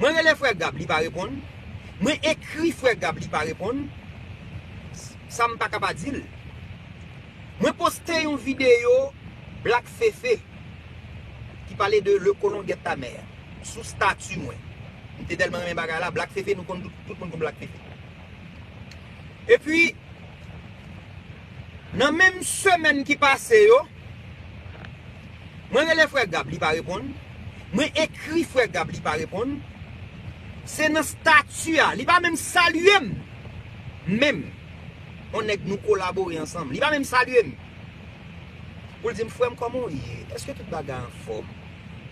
Mwen rele frè Gab li pa reponn, mwen ekri frè Gab li pa reponn, sa m pa ka pa di l. Mwen poste yon videyo Black Fefe ki pale de Le Colon Guette Ta Mère sou stati mwen. M te tèlman renmen bagay la, Black Fefe nou konn tout, tout moun konn Black Fefe. Epi, nan menm semèn ki pase yo. Mwen rele frè Gab li pa reponn, mwen ekri frè Gab li pa reponn, se nan statu a, li pa menm salye m menm, on nèg nou kolabore ansanm, li pa menm salye m, pou l di m frè m kòman w ye, èske tout bagay anfòm,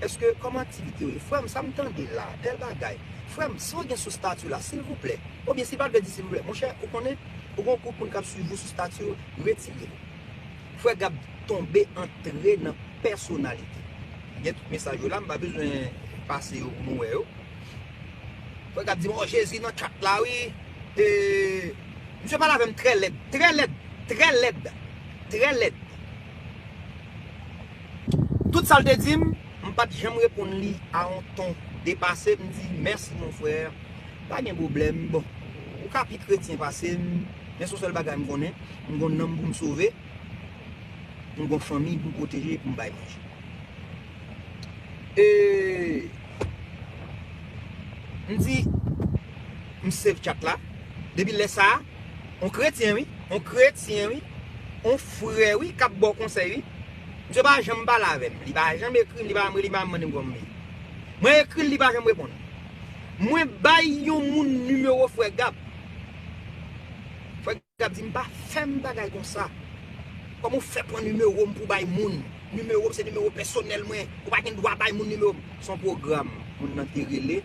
èske kòman aktivite yo ye, frè m sa m tande la, tèl bagay, frè m sa w gen sou statu la silvouplè, oubyen si l pa t vle di silvouplè, monchè ou konnen, ou gen yon group moun k ap swiv ou sou statu yo, retire l. Frè Gab tonbe antre nan pèsonalite. Gen tout mesaj yo la m pa bezwen pase yo pou nou wè yo. Frè Gab di m oh Jezi nan chat la wi e misye pale avè m trè lèd, trè lèd, trè lèd, trè lèd. Tout sa l te di m, m pa t janm reponn li a yon ton depase, m di mèsi mon frère, pa gen pwoblèm, bon ou ka pi kretyen pase m men son sèl bagay m konnen, M gon nanm pou m sove, m gon fanmiy pou m pwoteje e pou m bay manje. E m di m save chat la, depi lè sa, on kretyen wi, on kretyen wi, on frè wi k ap ba w konsèy wi, misye pa janm pale avè m, li pa janm ekri m, li pa janm rele m, li pa janm mande m kòman m ye. Mwen ekri l, li pa janm reponn. Mwen bay yon moun nimewo frè Gab. Frè. Gab di m pa fèm bagay konsa. Kòman ou fè pran nimewo m pou w bay moun? Nimewo m se nimewo pèsonèl mwen. Ou pa gen dwa bay moun nimewo m. Se yon pwogram moun nan te rele.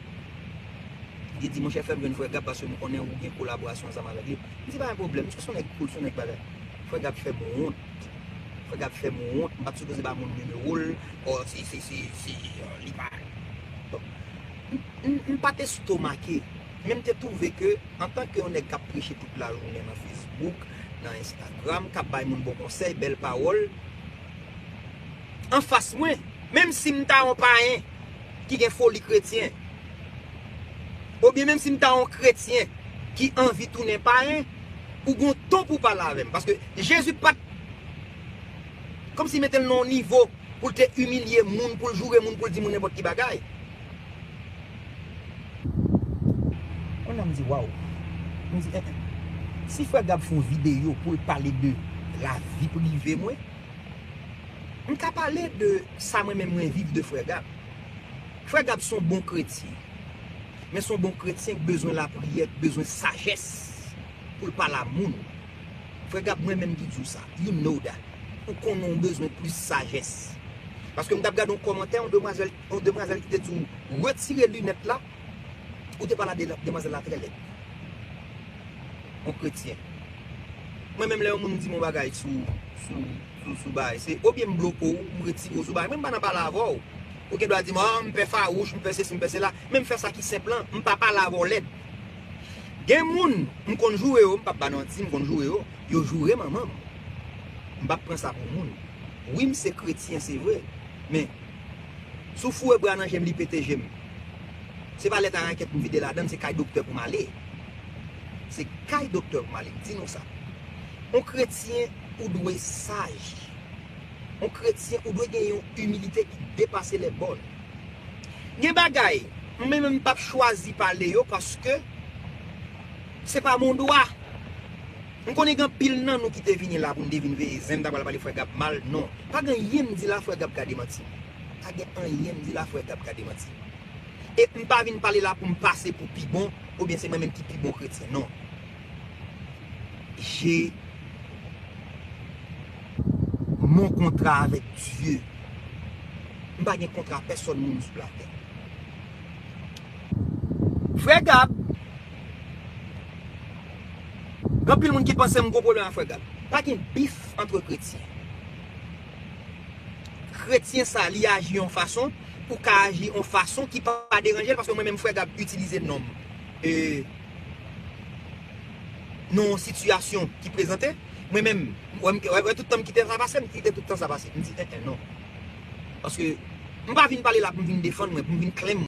Li te di, monchè fè m jwenn frè Gab paske m konnen ou gen kolaborasyon ansanm avèk li. M di pa gen pwoblèm. Misye se yon nèg koul, se yon nèg bagay. Frè Gab fè m wont. Frè Gab fè m wont. M pa t sipoze ba moun nimewo l. Ò se, se, se, se, li pa. M pa t estomake. Men m te twouve ke antanke yon nèg k ap preche tout lajounen nan Facebook, nan Instagram, k ap bay moun bon konsèy, bèl pawòl, anfas mwen, menm si m ta yon payen ki gen foli kretyen, oubyen menm si m ta yon kretyen ki anvi tounen payen, ou gen yon ton pou w pale avè m. Paske Jezi pa t kòmsi mete l nan yon nivo pou l te imilye moun, pou l joure moun, pou l di moun nenpòt ki bagay. Kounya m di waw. M di eh eh. Si frè Gab fon video pou l pale de lavi prive mwen, m ka pale de sa mwen menm mwen viv de frè Gab. Frè Gab son bon kretyen. Men son bon kretyen k bezwen lapriyè, k bezwen sajès pou l pale a moun. Frè Gab mwen menm ki di w sa. You know that. Ou konnen w bezwen plis sajès. Paske m t ap gade yon kòmantè yon demwazèl. Yon demwazel ki te di w retire lunet la ou te pale a demwazel la tre led. Yon kretyen. Mwen menm le yon moun dim yon bagay sou bagay se ou byen m bloko w m retire w sou bagay mwen m pa nan pale ave w. Ou gen dwa di m an m pe farouch m pe sesi m pe sela men m fe sa ki senp lan m pa pale ave w led. Gen moun m konn joure yo m pap ba nanti m konn joure yo yo joure manman m. M pap pran sa pou moun. Wi m se kretyen se vre men Sou foure bra nan jem li pete jem. Se pa lèt a rakèt pou vide ladann se kay doktè pou m ale. Se kay doktè pou m ale m di nou sa. On kretyen ou dwe saj. On kretyen ou dwe gen yon imilite ki depase lè bòn. Gen bagay m menm m pap chwazi pale yo paske se pa mon dwa. M konnen gen anpil nan nou ki te vini la pou n te vin veye zen m ta pral pale frè Gab mal non pa gen anyen m di la frè Gab ka demanti m pa gen anyen m di la frè Gab ka demanti m e m pa vin pale la pou m pase pou pi bon oubyen se mwen menm ki pi bon kretyen non je mon kontra avèk Dye m pa gen kontra pèsòn moun sou latè frè Gab. Gen anpil moun ki panse m gwo pwoblèm ak frè Gab. Pa gen bif antre kretyen. Kretyen sa li aji yon fason, ou ka aji yon fason ki pa deranje l paske mwen menm frè Gab itilize non m e nan yon sitiyasyon ki prezante, mwen menm wè m wè tout tan m kite sa pase, m kite tout tan sa pase. M di en en non. Paske m pa vin pale la pou m vin defann mwen, pou m vin klèm.